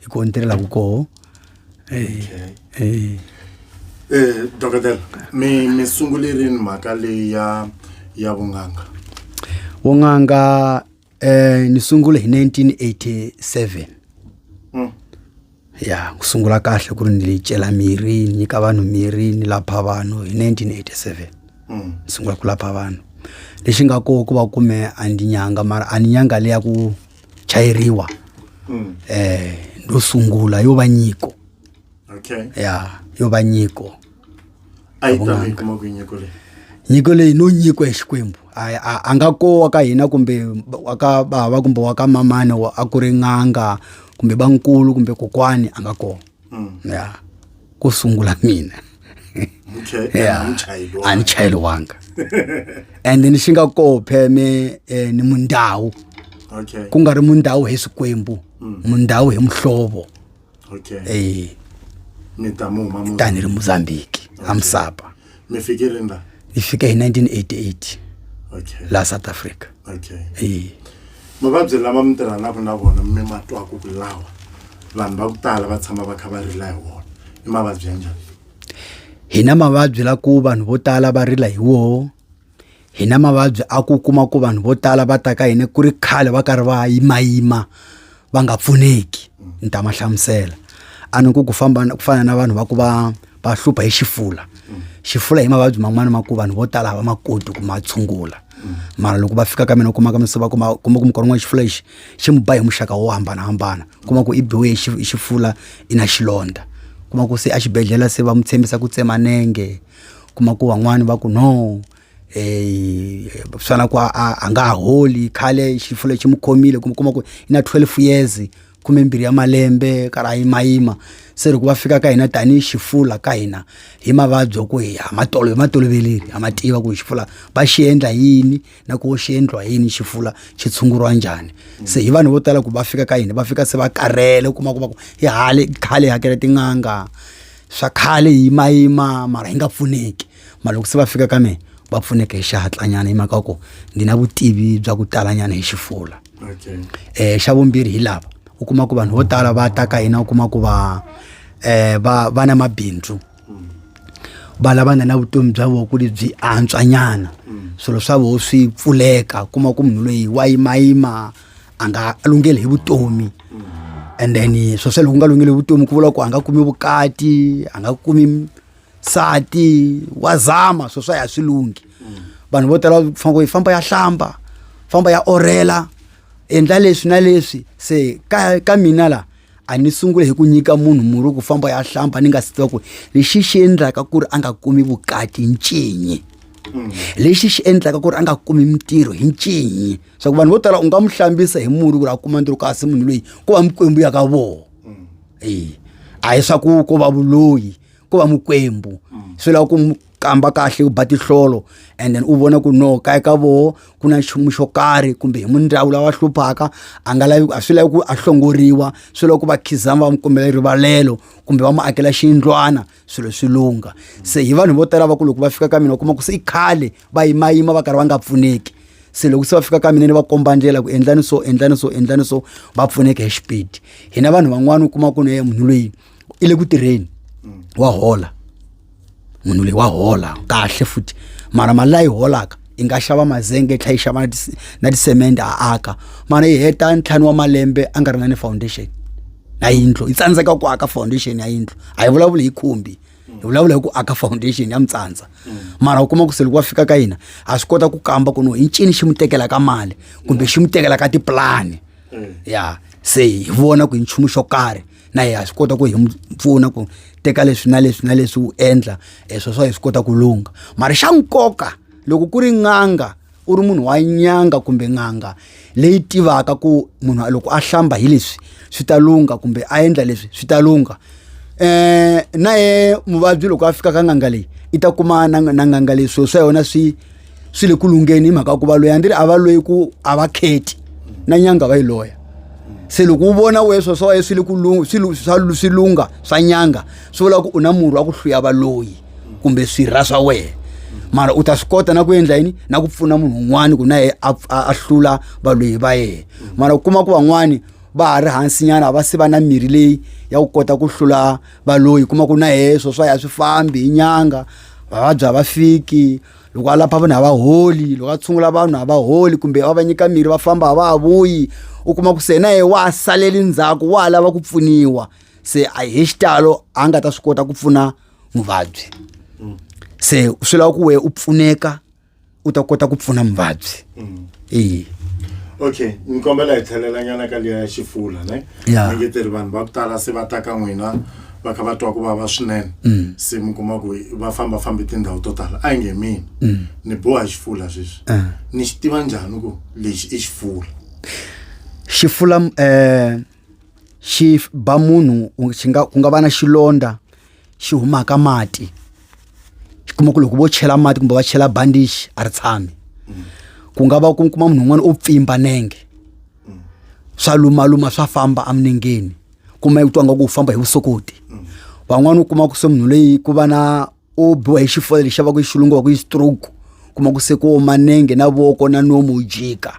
hi ko ni tirhelaka koho eh, eh. eh dokotela mi mi sungule rini mhaka leyi ya ya vun'anga vun'anga eh ni sungule hi 1987 mm. ya ku sungula kahle ku ri ni cela mirhi ni nyika vanhu mirhi ni lapha vanhu hi 1987 mm. ni sungula ku lapha vanhu lexi nga koho ku va kume a ndi nyanga mara a ni nyanga leya ku chayeriwa mm. eh ndo sungula yo va nyiko okay ya yo va nyiko a yi ta kuma ku nyiko leyi nyiko leyi no nyiko ya xikwembu a nga ko wa ka hina kumbe wa ka bava kumbe wa ka mamani a ku ri n'anga kumbe bankulu kumbe kokwani a nga kona Mm. ya ku sungula mina Muche- ya muchayeri wa- a ni chayeriwanga and ni xi nga koho pheme eh, ni mundhawu Okay. ku nga ri mundhawu hi swikwembu mundhawu hi muhlovo Okay. eh Mi ta mu huma mu- tani ri mozambiki a musapa mi fike rini la hi fike hi 1988 okay laha south africa okay e mavabyi lama mi tirhanaka na vona mi ma twaka ku lawa vanhu va ku tala va tshama va kha va rila hi wona i mavabyi ya njhani hi na mavabyi la ku vanhu vo tala va rila hi woho hi na mavabyi a ku kuma ku vanhu vo tala va ta ka hina ku ri khale va karhi va yimayima va nga pfuneki ni ta ma hlamusela a ni ku ku famba ku fana na vanhu va ku va va hlupha hi xifula xifula hi mavabyi man'wana ma ku vanhu vo tala hava ma koti ku ma tshungula mara loko va fika ka mina u kuma ka misava kuma kuma ku mukona n'wana xifula lexi xi mi ba hi muxaka wo hambanahambana kuma ku i biwe xifula i na xilondza kuma ku se exibedhlele se va n'wi tshembisa ku tsema nenge kuma ku van'wani va ku no eh swa na ku a a- a nga ha holi khale xifo lexi mu khomile kuma kuma ku i na 12 years khume mbirhi ya malembe ka ra yimayima se loko va fika ka hina tanihi xifula ka hina hi mavabyi ya ku hi ha ma tolo hi ma toloveleli ha ma tiva ku xifula va xi endla yini na ku xi endliwa yini xifula xi tshunguriwa njhani se hi vanhu vo tala ku va fika ka hina va fika se va karhele kuma kuma ku hi hale khale hi hakela tin'anga swa khale hi yimayima mara hi nga pfuneki mara loko se va fika ka mina va pfuneke hi xihatlanyana hi mhaka ku ndzi na vutivi bya ku talanyana hi xifula okay. eh xa vumbirhi hi lava u kuma ku vanhu vo tala va ta ka hina u kuma ku va eh va va na mabindzu va lava nga na vutomi bya voko lebyi antswanyana swilo swa voho swi pfuleka kuma ku munhu loyi wa yimayima a nga lungheli hi vutomi and then swo swe loko nga lungheli vutomi ku vula ku a nga kumi vukati a nga kumi sati wa zama swo swa ya swi lunghi vanhu vo tala fanele ku famba ya hlamba famba ya orela endla leswi na leswi se ka ka mina la a ni sungule hi ku nyika munhu murhi ku famba ya hlamba ni nga si tiva ku lexi xi endlaka ku ri a nga kumi vukati ncinyi lexi xi endlaka ku ri a nga kumi mintirho hi ncinyi swa ku vanhu vo tala u nga mu hlambisa hi murhi ku ri a kuma ntirho kasi munhu loyi ko va mikwembu ya ka vona mm. e a hi swa ku ko va vuloyi ko va mikwembu mm. swi lava ku mu kamba kahle ku ba tihlolo and then u vona ku no kaya ka voho ku na nchumu xo karhi kumbe hi mundhawu lawa hluphaka a nga lavi a swi lavi ku a hlongoriwa swi lava ku va khizama va mu kombela rivalelo kumbe va mu akela xiyindlwana swilo swi lungha se hi vanhu vo tala va ku loko va fika ka mina u kuma ku se i khale va yimayima va karhi va nga pfuneki se loko se va fika ka mina ni va komba ndlela ku endlani so endlani so endlani so va pfuneke hi xipidi hina vanhu van'wana u kuma ku ne munhu loyi i le ku tirheni wa hola munhu loyi wa hola kahle futhi mara mali layi holaka i nga xava mazenge i tlhela i xava na tisemende a aka mara i heta ntlhanu wa malembe a nga ri na ni foundation na yindlu i tsandzeka ku aka foundation ya yindlu a yi vulavuli hi khumbi hi vulavula hi ku aka foundation ya mitsandza mara u kuma ku se loko wa fika ka hina ha swi kota ku kamba ku no i ncini xi mu tekelaka mali kumbe xi mu tekelaka tipulani ya se hi vona ku hi nchumu xo karhi na yena ha swi kota ku hi n'wi pfuna ku teka leswi na leswi na leswi u endla e swo swa hi swi kota ku lungha mara xa nkoka loko ku ri n'anga u ri munhu wa nyanga kumbe n'anga leyi tivaka ku munhu loko a hlamba hi leswi swi ta lungha kumbe a endla leswi swi ta lungha um na ye muvabyi loko a fika ka n'anga leyi i ta kuma na na n'anga leyi swilo swa yona swi swi le ku lungheni hi mhaka ku va loyi a ndzi ri a va loyi ku a va kheti na nyanga va yi loya se loko u vona we swo swa waye swi le ku swi lungha swa nyanga swi vula ku u na murhi wa ku hluya valoyi kumbe swirha swa wena mara u ta swi kota na ku endla yini na ku pfuna munhu un'wana ku na ye a hlula valoyi va yena mara u kuma ku van'wani va ha ri hansinyana a va se va na mirhi leyi ya ku kota ku hlula valoyi kuma ku na ye swo swa ya swi fambi hi nyanga vavabyi a va fiki loko a lapha vanhu a va holi loko a tshungula vanhu a va holi kumbe a va nyika mirhi va famba a va ha vuyi u kuma ku se na ye wa ha saleli ndzhaku wa ha lava ku pfuniwa se a hi xitalo a nga ta swi kota ku pfuna muvabyi se swi lava ku wehe u pfuneka u ta kota ku pfuna muvabyi eyi okay ni kombela hi tlhelelanyana ka liya ya xifula ne Ya. ni nge teri vanhu va ku tala se va ta ka n'wina va kha va twa ku vava swinene Mm. se mi kuma ku va famba fambi tindhawu to tala a yi nge mina Mm. ni boha xifula sweswi Ah. ni xi tiva njhani ku lexi i xifula xi fula eh xi ba munhu u- xi nga ku nga va na xilondza xi humaka mati xi kuma ku loko vo chela mati kumbe va chela bandishi a ri tshami ku nga va ku kuma munhu un'wana o pfimba nenge swa lumaluma swa famba eminengeni kuma ku twa nga ku famba hi vusokoti van'wana u kuma ku se munhu leyi ku va na o biwa hi xifole lexi va ku yi xilungu va ku yi stroke kuma ku se ku oma nenge na voko na nomu wu jika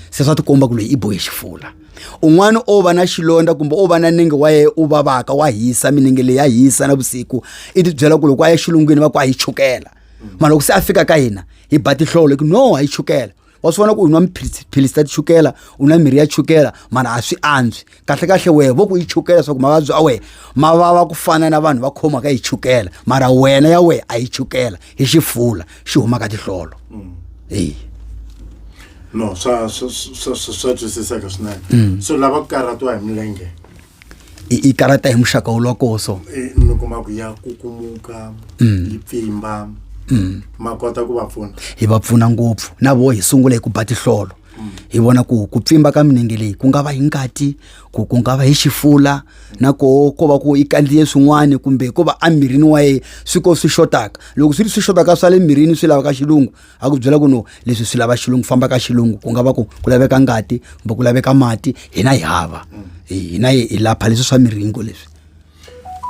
se swa tikomba ku loyi i bohe xifula un'wana o va na xilondza kumbe o va na nenge wa yena u vavaka wa hisa minenge leyi ya hisa na vusiku i tibyela ku loko a ya xilungwini va ku a yi chukela mara loko se a fika ka hina hi ba tihlolo hi ku no a yi chukela wa swi vona ku u nwa mphilisi ta tichukela u nwa mirhi ya chukela mara a swi antswi kahlekahle wehe vo ku yi chukela swa ku mavabyi a wehe ma vava ku fana na vanhu va khomaka yi chukela mara wena ya wehe a yi chukela hi xifula xi huma ka tihlolo mm. eyi no swa swa twisiseka swinene mm. so lava ku karhatiwa hi milenge i karata hi muxaka wu lokoso e, mi kuma ku ya kukumuka mm. yi pfimba ma kota ku va pfuna hi va pfuna ngopfu na vo hi sungula hi ku ba tihlolo hi vona ku ku pfimba ka minenge leyi ku nga va hi ngati ku ku nga va hi xifula na koho ko va ku i kandziye swin'wana kumbe ko va emirini wa yena swi ko swi xotaka loko swi ri swi xotaka swa le mirini swi lavaka xilungu a ku byela ku no leswi swi lava xilungu famba ka xilungu ku nga va ku ku laveka ngati kumbe ku laveka mati hina hi hava hina hi lapha leswi swa miringo leswi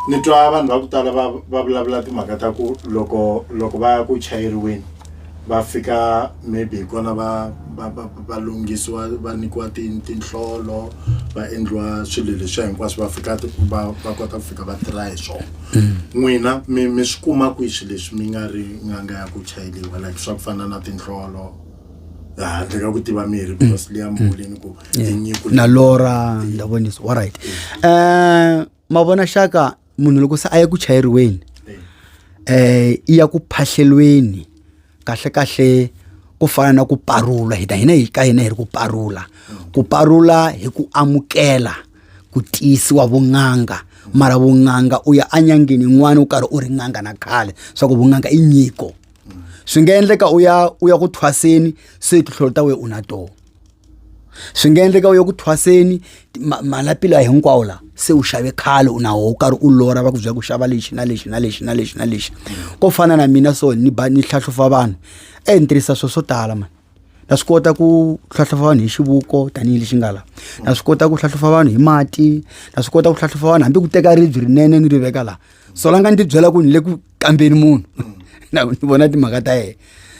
ni twa vanhu va ku tala va va vulavula timhaka ta ku loko loko va ya ku chayeriweni va fika maybe hi kona va va va va lunghisiwa va nyikiwa ti tinhlolo va endliwa swilo leswiya hinkwaswo va fika ti va va kota ku fika va tirha hi swona n'wina mi mi swi kuma kwihi swilo leswi mi nga ri n'anga ya ku chayeriwa like swa ku fana na tinhlolo. handle ka ku tiva mirhi because mm. leya mm. muvuleni ku tinyiko na lora ndavonisa all right um mavona xaka munhu loko se a ya ku chayeriweni um i ya ku phahlelweni kahle kahle ku fana na ku parula hina hina hi ka hina hi ri ku parula ku parula hi ku amukela ku tiyisiwa vun'anga mara vun'anga u ya anyangeni yin'wana u karhi u ri n'anga na khale swa ku vun'anga i nyiko mm. swi nga endleka u ya u ya ku thwaseni se tinhlolo ta wena u na tona swi nga endleka u ya ku thwaseni malapi lawa hinkwawo la se u xave khale u nawo u karhi u lora va ku byela ku xava lexi na lexi na lexi na lexi na lexi ko fana na mina so ni ba ni hlahlufa vanhu e ni tirhisa swilo swo tala mani na swi kota ku hlahlufa vanhu hi xivuko tanihi lexi nga la na swi kota ku hlahlufa vanhu hi mati na swi kota ku hlahlufa vanhu hambi ku teka ribyi rinene ni ri veka laha so la nga ni tibyela ku ni le ku kambeni munhu na ni vona timhaka ta yena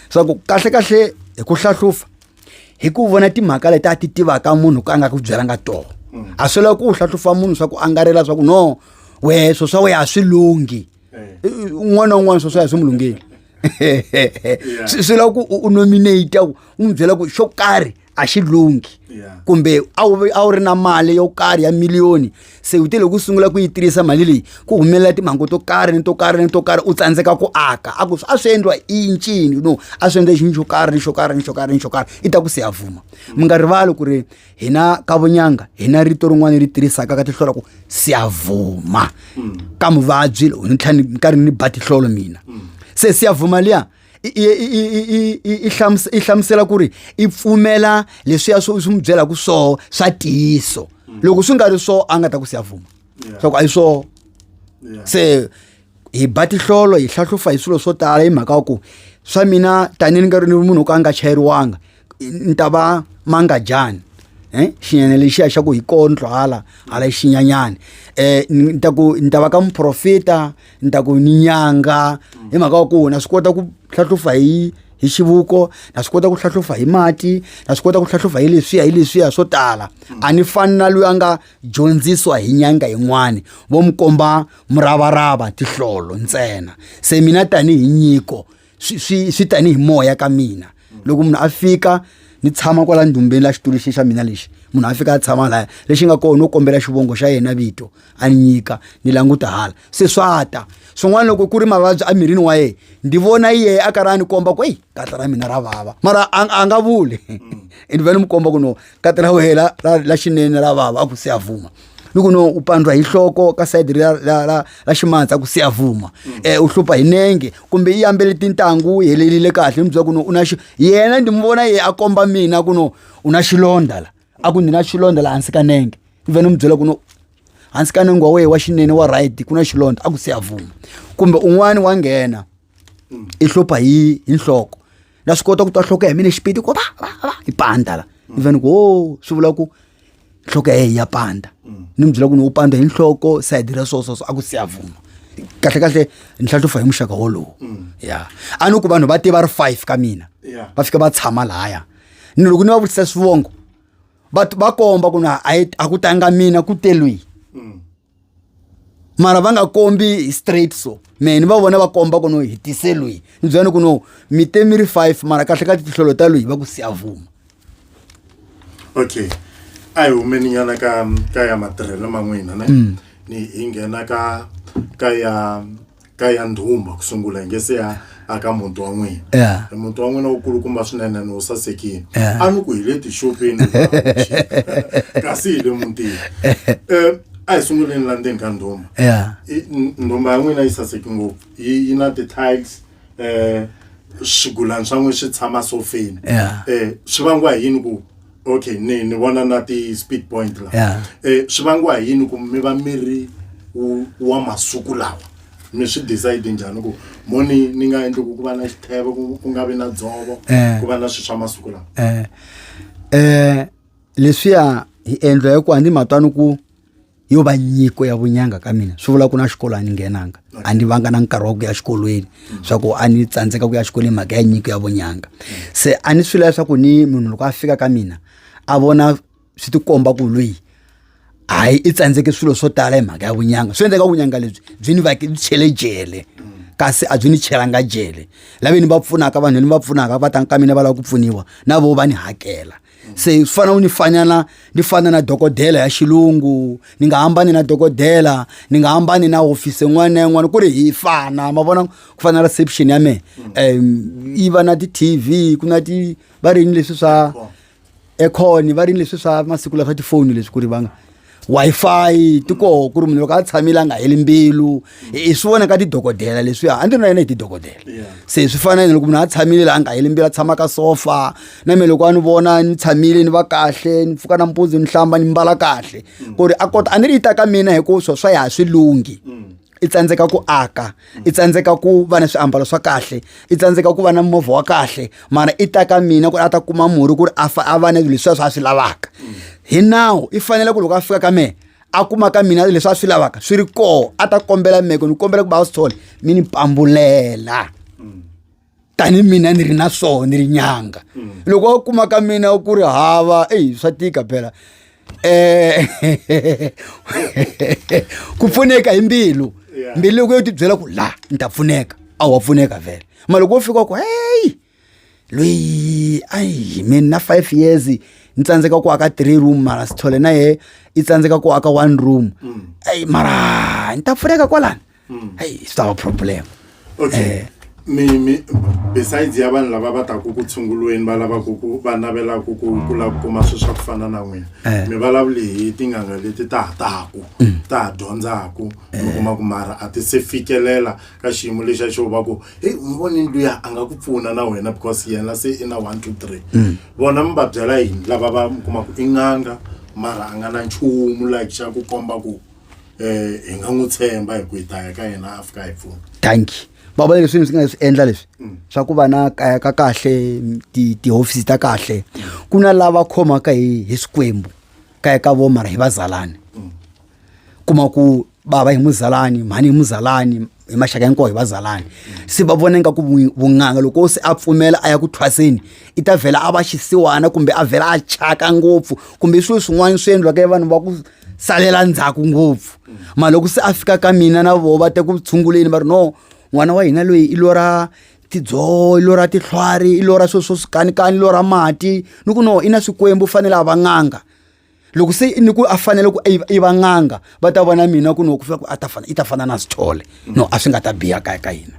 swa ku kahle kahle hi ku hlahlufa hi ku vona timhaka leti a ti tivaka munhu ka a nga ku byelanga toho a swi lava ku u hlahlufa munhu swa ku angarela swa ku no wehe swo swa wehe a swi lunghi un'wana na un'wana swo swa hi swi mu lungheli swi lava ku u nominate ku u n'wi byela ku xo karhi a xi lunghi yeah. kumbe a wu a wu ri na mali yo karhi ya miliyoni se u te loko u sungula ku yi tirhisa mali leyi ku humelela timhangu to karhi ni to karhi ni to karhi u tsandzeka ku aka a ku a swi endliwa i ncini no a swi endla xinhu xo karhi ni xo karhi ni xo karhi ni xo karhi i ta ku se ya vuma mi nga rivali ku ri hina ka vunyanga hina rito rin'wana ri tirhisaka ka tihlolo ku se ya vuma mm. ka muvabyi lowu ni tlhela ni karhi ni ba tihlolo mina mm. se se ya vuma liya i i i i i i hlamus- i hlamusela ku ri i pfumela leswiya swi swi n'wi byelaka swoho swa tiyiso loko swi nga ri swoho a nga ta ku siya vuma swa ku a yi swoho Yeah. se hi ba tihlolo hi hlahlufa hi swilo swo tala hi mhaka ya ku swa mina tanihi ni nga ri ni munhu wo ka a nga chayeriwanga ni ta va mangajani eh xinyana lexiya xa ku hi kondlo hala hala xinyanyani eh ni ta ku ni ta va ka muprofita ni ta ku ni nyanga hi mhaka wa ku na swi kota ku hlahlufa hi hi xivuko na swi kota ku hlahlufa hi mati na swi kota ku hlahlufa hi leswiya hi leswiya swo tala a ni fani na loyi a nga dyondzisiwa hi nyanga yin'wani vo mi komba muravarava tihlolo ntsena se mina tanihi nyiko swi swi swi tanihi moya ka mina loko munhu a fika ni tshama kwala ndumbeni la xitulu xi xa mina lexi munhu a fika a tshama laya lexi nga kona no kombela xivongo xa yena vito a ni nyika ni languta hala se swa ta swin'wana loko ku ri mavabyi emirini wa yena ndi vona yeye a karhi a ni komba ku eyi katla ra mina ra vava mara a nga vuli mm. ni va ni mi komba ku no katla ra wena la xinene ra vava a ku se a vuma ni ku no u pandwa hi hloko ka sayidi ra, ra, ra, ra ximatsa ku se avuma um u hlupha hi nenge kumbe yi yambele tintangu yi helelile kahle ni byela ku no u na xi yena ndi mi vona ye a komba mina ku no u na xilondha la a ku ndzi na xilondha la hansi ka nenge ni vhe ni mi byela ku no hansi ka nenge wa wehe wa xinene wa right ku na xilondha a ku se avuma kumbe un'wani wa nghena mm. i hlupha hi hi nhloko na swi kota ku twa nhloko ya mina xipiti ku va va va i panda la mm. even ku o oh, swi vula ku nhloko ya ya panda mm. ni mi byela ku ni u panda hi nhloko sayidi ra so so so a ku siyavuma kahle kahle ni hlatlufa hi muxaka wolowo ya a ni ku vanhu va tiva ri five ka mina va fika va tshama lahaya ni loko ni va vutisa swivongo va komba ku na a ku tanga mina ku telwihi mara va nga kombi straight so mehe ni va vona va komba ku no hi tise lweyi ni byela ni ku no mi te mi ri five mara kahle ka tihlolo ta lweyi va ku siyavuma okay a hi humeni nyana ka ka ya matirhelo man'wina ne ni hi nghena ka ka ya ka ya ndhumba ku sungula hi nge se ya aka muti wa n'wina Yeah. E muti wa n'wina wu kulukumba swinene ni wu sasekile Yeah. a ni ku hi le tixopeni kasi hi le mutini um a hi sunguleni la ndzeni ka ndhumba Yeah. I- n- ndhumba ya n'wina yi saseke ngopfu yi yi na ti-tiles um swigulani swa n'wina swi tshama sofeni Yeah. um swi vangiwa hi yini ku okay ni ni vona na ti speed point la yeah. eh swi vangiwa hi yini ku mi va mi ri wa masiku lawa mi swi decide njhani ku moni ni nga endli ku ku va na xitheve ku nga vi na dzovo eh. ku va na swilo swa masiku lawa eh eh leswiya hi endla hi ku a ni matwani ku yo va nyiko ya vunyanga ka mina swi vula ku na xikolo a ni nghenanga a ni vanga na nkarhi wa ku ya xikolweni swa ku a ni tsandzeka ku ya xikolweni mhaka ya nyiko ya vunyanga se a ni swi lava swa ku ni munhu loko a fika ka mina a vona swi tikomba ku lweyi hayi i tsandzeke swilo swo tala hi mhaka ya vunyanga swi endleka vunyanga lebyi byi ni vake byi chele jele kasi a byi ni chelanga jele lave ni va pfunaka vanhu ni va pfunaka va ta ka mina va lava ku pfuniwa na vo va ni hakela se swi fana u ni fanyana ni fana na dokodela ya xilungu ni nga hambani na dokodela ni nga hambani na hofisi yin'wana na yin'wana ku ri hi fana ma vona ku fana reception ya mehe um yi va na ti-tv ku na ti va rini leswi swa econ va rini leswi swa masiku lawa swa tifoni leswi ku ri va nga Wi-Fi ti koho ku ri munhu loko a tshamile a nga heli mbilu hi swi vona ka tidokodela leswiya a ndzi na yena hi tidokodela se swi fana na loko munhu a tshamile la a nga heli mbilu a tshama ka sofa na mina loko a ni vona ni tshamile ni va kahle ni pfuka nampundzu ni hlamba ni mbala kahle ku ri a kota a ni ri yi ta ka mina hikuva swo swa ya swi lunghi i tsandzeka ku aka i tsandzeka ku va na swiambalo swa kahle i tsandzeka ku va na movha wa kahle mara i ta ka mina ku ri a ta kuma murhi ku ri a fa a va na leswi swa swi lavaka hi nawu i fanele ku loko a fika ka mehe a kuma ka mina leswi a swi lavaka swi ri koho a ta kombela meko ni kombela ku va a swi thole mi ni pambulela tani mina ni ri na swona ni ri nyanga mm. loko wa kuma ka mina ku ri hava eyi swa tika phela um ku pfuneka hi mbilu mbilu loko yo tibyela ku la ni ta pfuneka a wa pfuneka vhele ma loko wo fika ku heyi loyi ayi mina na five years ni tsandzeka ku aka three room mara sithole na ye i tsandzeka ku aka one room mm. ayi mara ni ta pfuneka kwalani mm. hey it's our problem okay eh, mi mi besides ya vanhu lava va taku ku tshungulweni va lavaku ku va navelaka ku ku lava ku kuma swilo swa ku fana na n'wina eh. mi vulavuli hi tinganga leti ta ha taku mm. ta ha dyondzaka mi eh. kuma ku mara a ti se fikelela ka xiyimo lexi a xo va ku heyi mi voni luya a nga ku pfuna na wena because yena se i na one two three mm. vona mi va byela yini lava va mi kumaku i n'anga mara a nga na nchumu like xa ku komba ku eh hi nga n'wi tshemba hi ku hi ta ya ka yena a fika hi pfuna thank you va vona leswi swi nga swi endla leswi mm. swa ku va na kaya ka kahle tihofisi ta kahle ku na lava khomaka hi hi swikwembu kaya ka vo mara hi vazalani mm. kuma ku bava hi muzalani mhani hi muzalani hi maxaka hinkwawo hi vazalani se va vona ingaku vun'anga loko se a pfumela a ya ku thwaseni i ta vhela a va xisiwana kumbe a vhela a chaka ngopfu kumbe i swilo swin'wana swi endliwaka vanhu va ku salela ndzhaku ngopfu mara loko se a fika ka mina na voho va te ku tshunguleni va ri no n'wana wa hina loyi i lora tidzoho i lora tihlwari i lora swilo swo swikanikani i lora mati ni ku no i na swikwembu u fanele a va n'anga loko se ni ku a fanele ku i va n'anga va ta vona mina ku no ku fika ku a ta fana i ta fana na sithole no a swi nga ta biha kaya ka hina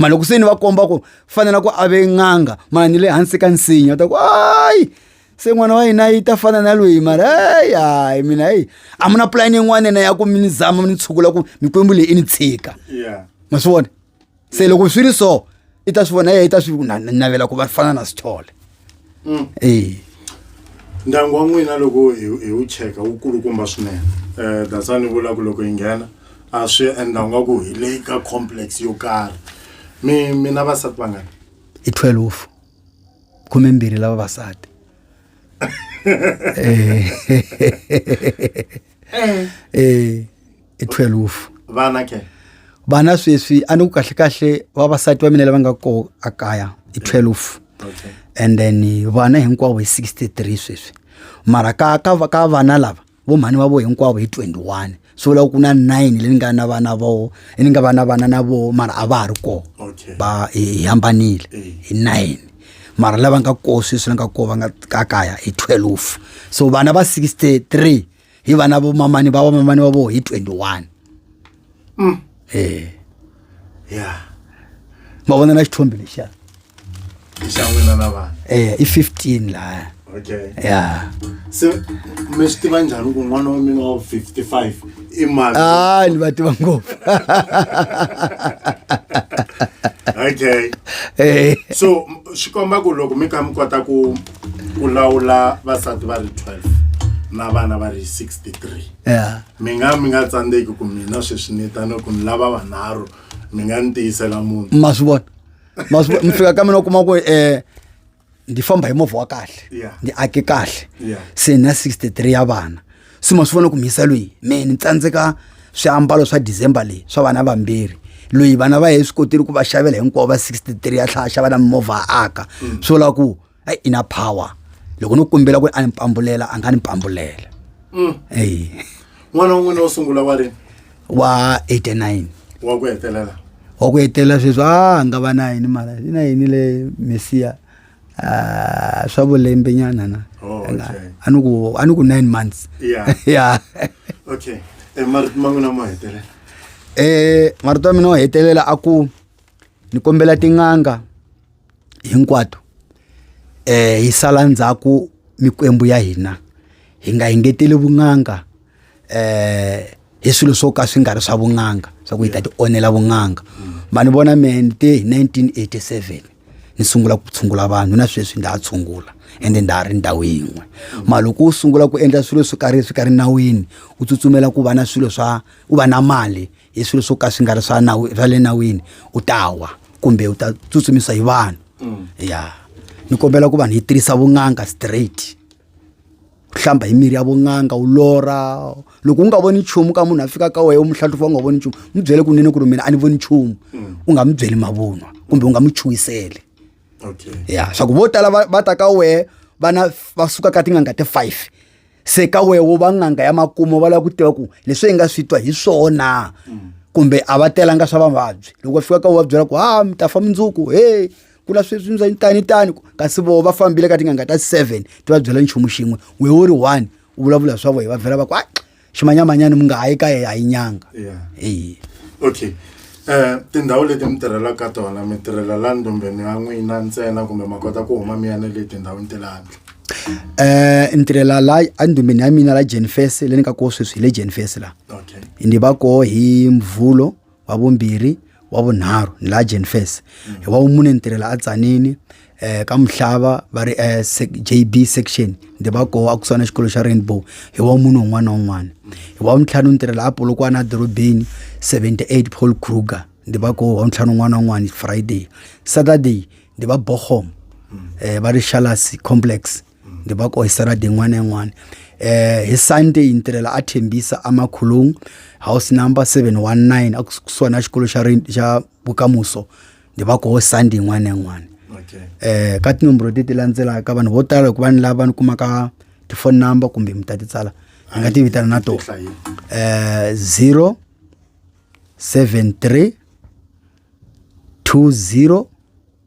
ma loko se ni va komba ku fanela ku a ve n'anga ma ni le hansi ka nsinya ta ku ayi se n'wana wa hina yi ta fana na loyi mara hayi hayi mina hayi a mu na pulani yin'wana na ya ku mi ni zama mi ni tshukula ku mikwembu leyi i ni tshika ma swi vona se loko swi ri so i ta swi vona yena i ta swi navela ku va fana na sithole mm. e ndyangu wa n'wina loko hi wu cheka wu kulukumba swinene um eh, dasa ni vula ku loko yi nghena a swi endla nga ku hi le ka complex yo karhi mi mina vasati vangani i twelve khumembirhi lava vasati um eh. eh. hi 12 vana ke vana sweswi a ni ku kahle kahle vavasati va mina lava nga ko a kaya hi 12 okay and then vana hinkwavo hi 63 sweswi mara ka ka ka vana lava vo mhani va vo hinkwavo hi 21 so loko ku na 9 leyi nga na vana vo ni nga vana vana na vo mara a va ha ri ko okay ba hi hambanile Eh. hi 9 mara lava nga ko sweswi la nga ko va nga ka kaya hi 12 so vana va 63 hi vana vo mamani va vamamani va vo hi 21 mm. e ya ma vona na xithombi lexiya e i 15 laya okay ya se mi swi tiva njhani ku n'wana wa mina wa 55 i mali ah ni va tiva ngopfu okay eh so swi komba ku loko mi kha mi kota ku ku lawula vasati va ri 12 na vana va ri 63 yeah. mi nga mi nga tsandzeki ku mina sweswi ni tano ku ni lava vanharhu mi nga ni tiyisela munhu ma swi vona ma swi mi fika ka mina u kuma ku um eh, ndi famba hi movha wa kahle ndi ake kahle se na 63 ya vana se ma swi vona ku mhisa loyi me ni tsandzeka swiambalo swa december leyi swa vana vambirhi loyi vana va ye swi kotile ku va xavela hinkwavo va 63 ya tlhaya xava na mimovha a aka mm. swi vula ku hayi i na power loko no kombela ku ri a ni pambulela a nga ni pambulela mm. eyi n'wana wun'wana wo sungula wa rini wa 89 wa ku hetelela wa ku hetelela sweswi a nga va na yini mara i na yini le mesiya Ah, swa vulembe nyana na Oh, okay. a ni ku a ni ku 9 months Yeah. ya okay Eh, marito ma n'wina ma hetelela eh marito ya mina o hetelela a ku ni kombela tin'anga hinkwato eh hi sala ndzhaku mikwembu ya hina hi nga engeteli vun'anga eh hi swilo swo ka swi nga ri swa vun'anga swa ku hi ta ti onela vun'anga ma ni vona me ni te hi 1987 ni sungula ku tshungula vanhu na sweswi ndza ha tshungula ende ndza ha ri ndhawu yin'we mara loko u sungula ku endla swilo swo karhi swi ka ri nawini u tsutsumela ku va na swilo swa u va na mali hi swilo swo ka swi nga ri swa nawu swa le nawini u ta wa kumbe u ta tsutsumisa hi vanhu ya ni kombela ku vanhu hi tirhisa vun'anga straight. u hlamba hi mirhi ya vun'anga u lorha loko u nga voni nchumu ka munhu a fika ka wena u muhlanhlufa u nga voni nchumu mi byele kunene ku ri mina a ni voni nchumu mm. u nga mi byeli mavunwa kumbe u nga mi chuhiseli ya swa ku vo tala va ta ka wehe vana va suka ka tin'anga ti five se ka wehe wo va n'anga ya makumu va lava ku tiva ku leswi hi nga swi twa hi swona mm. kumbe a va telanga swa vavabyi loko va fika ka u va byela ku ha mi ta fa mundzuku he kula sweswi ndza tani tani kasi voho va fambile ka tinganga ta seven ti va byela nchumu xin'we we wo ri one u vulavula swa vohe va vhela va ku a ximanyamanyani mi nga ha yi ka ye a yi nyanga e okay um tindhawu leti mi tirhelaka ka tona mi tirhela la ndombeni ya n'wina ntsena kumbe ma kota ku huma mi ya ne le tindhawini te le handle eh ni tirhela la endumbeni ya mina la jenfes le ni ka koho sweswi hi le jenfes la ni va koho hi mvhulo wa vumbirhi wa vunharhu ni laha jenfes mm. hi wa vumune ni tirhela atsanini eh ka muhlava va ri eh, JB section ndi va koho a kusana xikolo xa Rainbow hi wa munhu un'wana na un'wana hi wa mtlhanu ni tirhela apolokwana edorobeni 78 Paul Kruger ndi va koho wa mtlhanu un'wana na un'wana Friday Saturday ndi va Bochum eh va ri Shalas complex ndzi va ko hi saturday yin'wana na yin'wana um hi sunday ni tirhela a thembisa amakholong house number seven one nine a kusuhi na xikolo xa xa vukamuso ndzi va koho sunday yin'wana na yin'wana um ka tinomboro leti ti landzelaka vanhu vo tala loko va ni lava ni kumaka tifoni number kumbe mi ta ti tsala ni nga ti vitana na tona um zero seven three two zero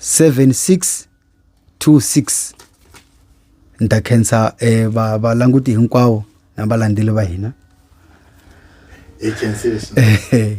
7626 ni ta khensa eh, va valanguti hinkwavo na valandzeli va hina hi khensile swinene